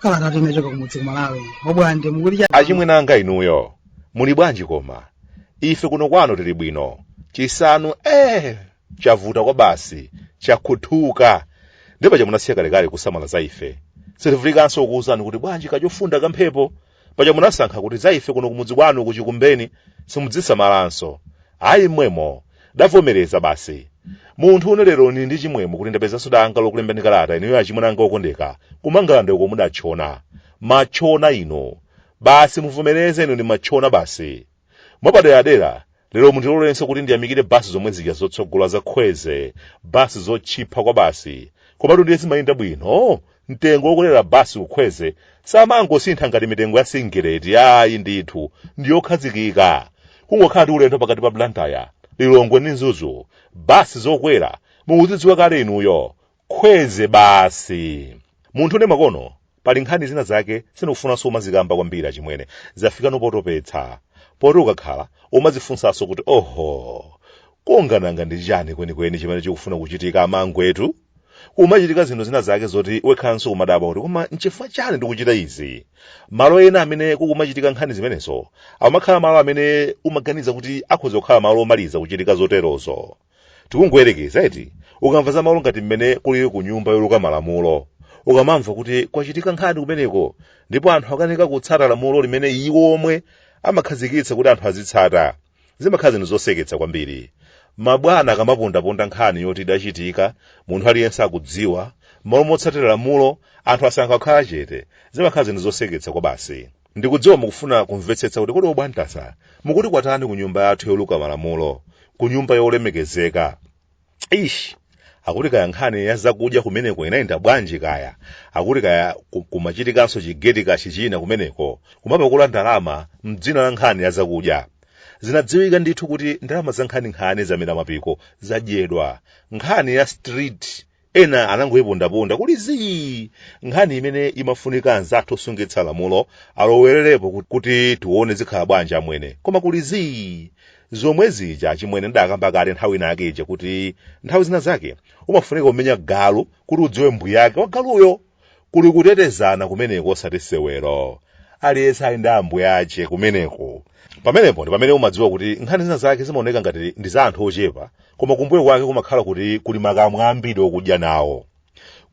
kalata yochoka kumudzi kumalawi obwande akuti achimwene anga inuyo muli bwanji koma ife kuno kwano tili bwino chisanu eh chavuta kwabasi chakhuthuka ndiye paja munasiya kalekale kusamala za ife sitivutikanso kuwuzani kuti bwanji kachofunda kamphepo paja munasankha kuti za ife kuno kumudzi kwanu kuchikumbeni simudzisamalanso ayi mmwemo davomereza basi munthu une lero nili ndi chimwemwe kuti ndapezanso danga lokulembani kalata inuyo achimwene anga okondeka kumangala ndiko mudatchona matchona inu basi muvomereze inu ni matchona basi mwapaderadera lero mundilolenso kuti ndiyamikire basi zomwe zija zotsogola za kwezy basi zotchipha kwa basi komatu ndiye zimayenda bwino mtengo wokwelera basi ku kwezy samangosintha ngati mitengo ya singileti ayi ndithu ndiyokhazikika kungokhala ndi ulendo pakati pa blantyre lilongwe ndi mzuzu basi zokwera mukuzidziwa kale inuyo kwezy basi munthu une makono pali nkhani zina zake sinikufunanso kumazikamba kwambiri achimwene zafika nopotopetsa poti ukakhala umazifunsanso kuti oho kodi nanga ndi chani kwenikweni chimene chikufuna kuchitika amangwetu kumachitika zinthu zina zake zoti wekhanso umadabwa kuti koma nchifukwa chani ndikuchita izi malo ena amene kukumachitika nkhani zimenezo amakhala malo amene umaganiza kuti akhoza kukhala malo omaliza kuchitika zoterozo tikungoyerekeza eti ukamva za malo ngati mmene kulili ku nyumba yoluka malamulo ukamamva kuti kwachitika nkhani kumeneko ndipo anthu akanika kutsata lamulo limene iwo omwe amakhazikitsa kuti anthu azitsata zimakhala zinthu zoseketsa kwambiri mabwana akamapondaponda nkhani yoti idachitika munthu aliyense akudziwa mmalo motsatira lamulo anthu asankha kukhala chete zimakhala zinthu zoseketsa kwabasi Ndikudziwa mukufuna kumvetsetsa kuti kodi obwande mukuti kwatani ku nyumba yathu yoluka malamulo, ku nyumba yolemekezeka. Eish! Akuti kaya nkhani ya zakudya kumeneko inayenda bwanji kaya, akuti kaya ku- kumachitikanso chigeti kashi china kumeneko, kumapakula ndalama m'dzina la nkhani ya zakudya. Zinadziwika ndithu kuti ndalama zankhaninkhani zamera mapiko zadyedwa. Nkhani ya street Ena anangoipondaponda kuli zii! Nkhani imene imafunika anzathu osungitsa lamulo alowererepo kut- kuti tione zikhala bwanji amwene. Koma kuli zii! Zomwe zija achimwene ndidakamba kale nthawi inayake ija kuti nthawi zina zake umafunika kumenya galu kuti udziwe mbuyake wa galuyo! Kuli kutetezana kumeneko osati sewero. Aliyense ali ndi ambuye ache kumeneko. Pamenepo ndi pamene umadziwa kuti nkhani zina zake zimaoneka ngati ndi za anthu ochepa, koma kumbuyo kwake kumakhala kuti kuli makamwa ambiri okudya nawo.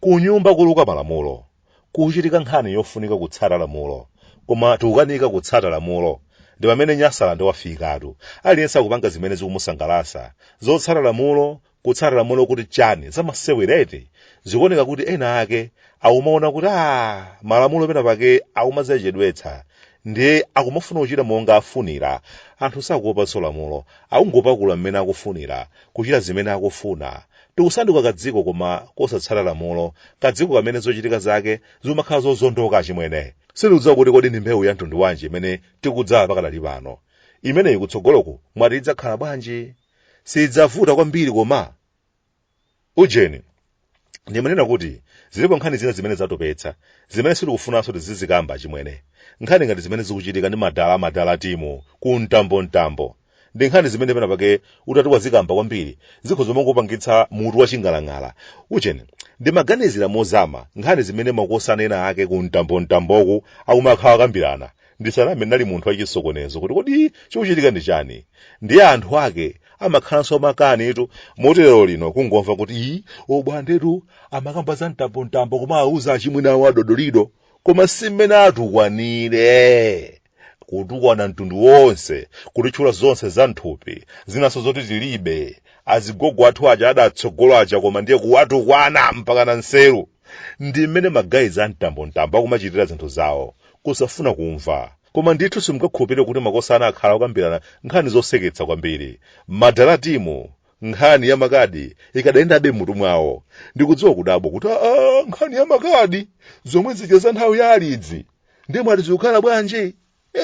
Kunyumba koluka malamulo. Kuchitika nkhani yofunika kutsata lamulo. Koma tikukanika kutsata lamulo. Ndi pamene Nyasaland wafikatu. Aliyense akupanga zimene zikumusangalasa. Zotsata lamulo, kutsata lamulo kuti chani zamasewera eti zikuoneka kuti ena ake akumaona kuti a malamulo pena pake akumazachedwetsa ndiye akumafuna kuchita monga afunira anthu sakuopanso lamulo akungopakula mmene akufunira kuchita zimene akufuna tikusanduka kadziko koma kosatsata lamulo kadziko kamene zochitika zake zimakhala zozondoka achimwene sindikudziwa kuti kodi ndi mbewu ya mtundu wanji imene tikudzala pakadali pano imeneyi kutsogoloku mwati idzakhala bwanji sidzavuta kwambiri koma ujeni ndimanena kuti zilipo nkhani zina zimene zatopetsa zimene sitikufunanso tizizikamba achimwene nkhani ngati zimene zikuchitika ndi madala amadala timu ku mtambomtambo ndi nkhani zimene pena pake utati wazikamba kwambiri zikhoza kumangopangitsa mutu waching'alang'ala ujeni ndimaganizira mozama nkhani zimene makosana ena ake ku mtambomtamboku akumakhala akambirana ndisaname ndinali munthu wachisokonezo kuti kodi chikuchitika ndi chani ndiye anthu ake amakhalanso makanitu moti lero lino kungomva kuti ii obwandetu amakamba za mtambomtambo koma auza achimwene awo adodolido koma si mmene atukwanire kutukwana mtundu wonse kutitchula zonse za nthupi zinanso zoti tilibe azigogo athu aja adatsogola aja koma ndiye kuwatukwana mpaka na nseru ndi mmene magayizi a mtambomtambo akumachitira zinthu zawo kusafuna kumva koma ndithu simungakhulupirire kuti makosana akhala okambirana nkhani zoseketsa kwambiri madala timu nkhani ya makadi ikadayendabe mmutu mwawo ndikudziwa kudabwa kuti aa nkhani ya makadi zomwe zija za nthawi ya alidzi ndiye mwati zikukhala bwanji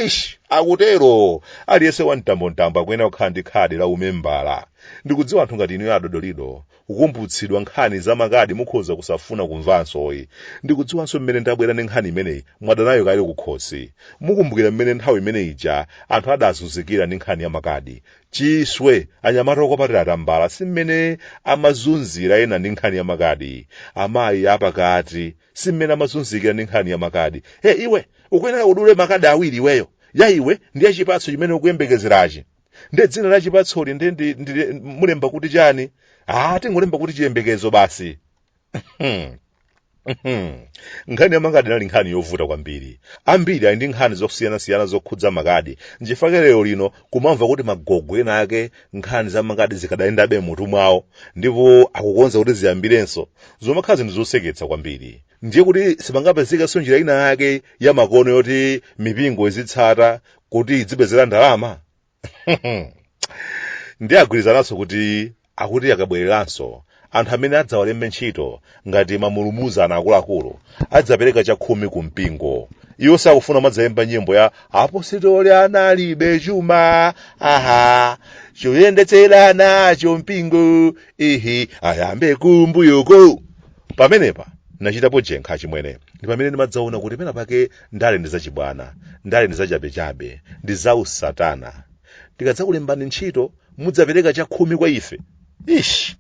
ish akutero aliyense wa mtambomtambo akuyenera kukhala ndi khadi la umembala ndikudziwa anthu ngati inuyo adodolido kukumbutsidwa nkhani za makadi mukhoza kusafuna kumvanso ayi ndikudziwanso mmene ndabwera ndi nkhani imeneyi mwadanayo kale kukhosi mukumbukira mmene nthawi imene ija anthu adazunzikira ndi nkhani ya makadi chiswe anyamata okwapatira atambala si mmene amazunzira ena ndi nkhani ya makadi amayi apakati si mmene amazunzikira ndi nkhani ya makadi e iwe ukuyenera udule makadi awiri iweyo ya iwe ndi ya chipatso chimene ukuyembekezerachi nde dzina la chipatsoli nde ndimulemba kuti chani ah tingolemba kuti chiyembekezo basi Hmm. Hmm. nkhani yamakadi inali nkhani yovuta kwambiri ambiri ali ndi nkhani zosiyanasiyana zokhudza makadi nchifukwa lero lino kumamva kuti magogo ena ake nkhani za makadi zikadayendabe mutu mwawo ndipo akukonza kuti ziyambirenso zomakhala zinthu zoseketsa kwambiri ndiye kuti sipangapezekenso njira ina yake yamakono yoti mipingo izitsata kuti idzipezera ndalama ndiye agwirizananso kuti akuti akabwereranso anthu amene adzawalembe ntchito ngati mamulumuzana akuluakulu adzapereka chakhumi ku mpingo iwo sakufuna kumadzayimba nyimbo ya apositoli analibe chuma aha choyendetsera nacho mpingo ihi ayambe kumbuyoko pamenepa nachitapo jenkha chimwene ndi pamene ndimadzaona kuti pena pake ndale ndi zachibwana ndale ndi zachabechabe ndi za usatana tikadzakulembani ntchito mudzapereka chakhumi kwa ife ish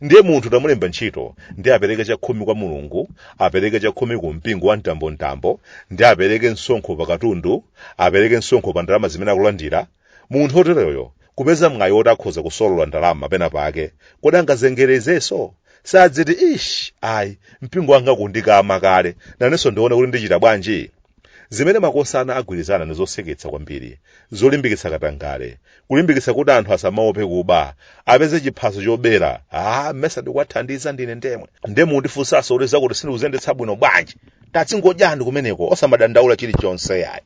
ndiye munthu tamulemba ntchito ndi apereke chakhumi kwa mulungu apereke chakhumi ku mpingo wa mtambomtambo ndi apereke msonkho pa katundu apereke msonkho pa ndalama zimene akulandira munthu oteroyo kupeza mwayi woti akhoza kusolola ndalama pena pake kodi angazengerezenso sadziti ish ayi mpingo wanga ukundikama kale nanenso ndione kuti ndichita bwanji zimene makosana agwirizana ndi zoseketsa kwambiri zolimbikitsa katangale kulimbikitsa kuti anthu asamaope kuba apeze chiphaso chobera ah mmesa ndikuwathandiza ndine ndemwe ndiye mundifunsanso kuti zakuti sindikuzendetsa bwino bwanji tadzingodyani kumeneko osamadandaula chilichonse yayi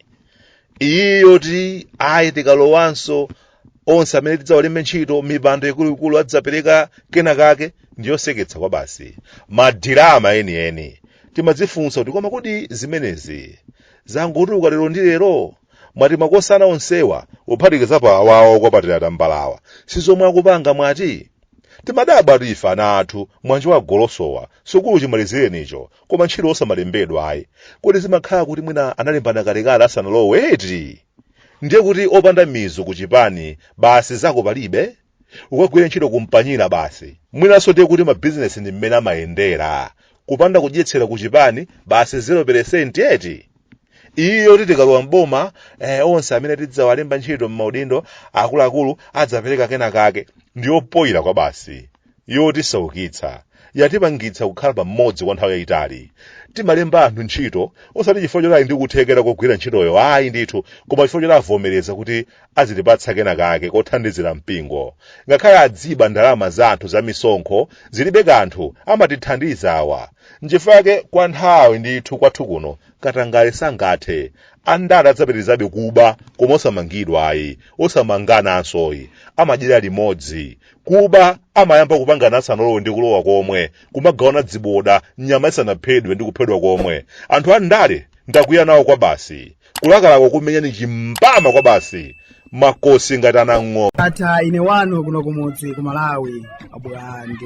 iyi yoti ayi tikalowanso onse amene tidzawalembe ntchito mipando ikuluikulu adzapereka kena kake ndiyoseketsa kwabasi madirama enieni timadzifunsa kuti koma kodi zimenezi zangotuluka lero ndi lero mwati makosana onsewa kuphatikiza pa awawa okwapatira tambalawa si zomwe akupanga mwati timadabwa tifa ana athu mwanjiwa golosowa sukulu chimalizirenicho koma ntchito osamalembedwa ayi kodi zimakhala kuti mwina analembana kalekale asanalowe eti ndiye kuti opanda mizu ku chipani basi zako palibe ukagwire ntchito kumpanyira basi mwinanso ndiye kuti mabizinesi ndi mmene amayendera kupanda kudyetsera ku chipani basi 0 eti iyi yoti tikalowa mboma eh, onse amene tidzawalemba ntchito m'maudindo akuluakulu adzapereka kena kake ndiyopoyira kwabasi yotisaukitsa yatipangitsa kukhala pamodzi kwa nthawi yayitali timalemba anthu ntchito osati chifukwa choti ali ndi kuthekera kogwira ntchitoyo ayi ndithu koma chifukwa choti avomereza kuti azitipatsa kena kake kothandizira mpingo ngakhale adziba ndalama za anthu za misonkho zilibe kanthu amatithandiza awa nchifukwa yake kwa nthawi ndithu kwathu kuno katangale sangathe andale adzapitirizabe kuba koma osamangidwa ayi osamangananso ayi amadyera limodzi kuba amayamba kupangana asanalowe ndi kulowa komwe kumagawana dziboda nyama isanaphedwe ndi kuphedwa komwe anthu a ndale ndakwiya nawo kwa basi kulakalaka kukumenyani chimbama kwa basi makofi ngati anang'o ndatha ine wanu kuno kumudzi ku malawi abulande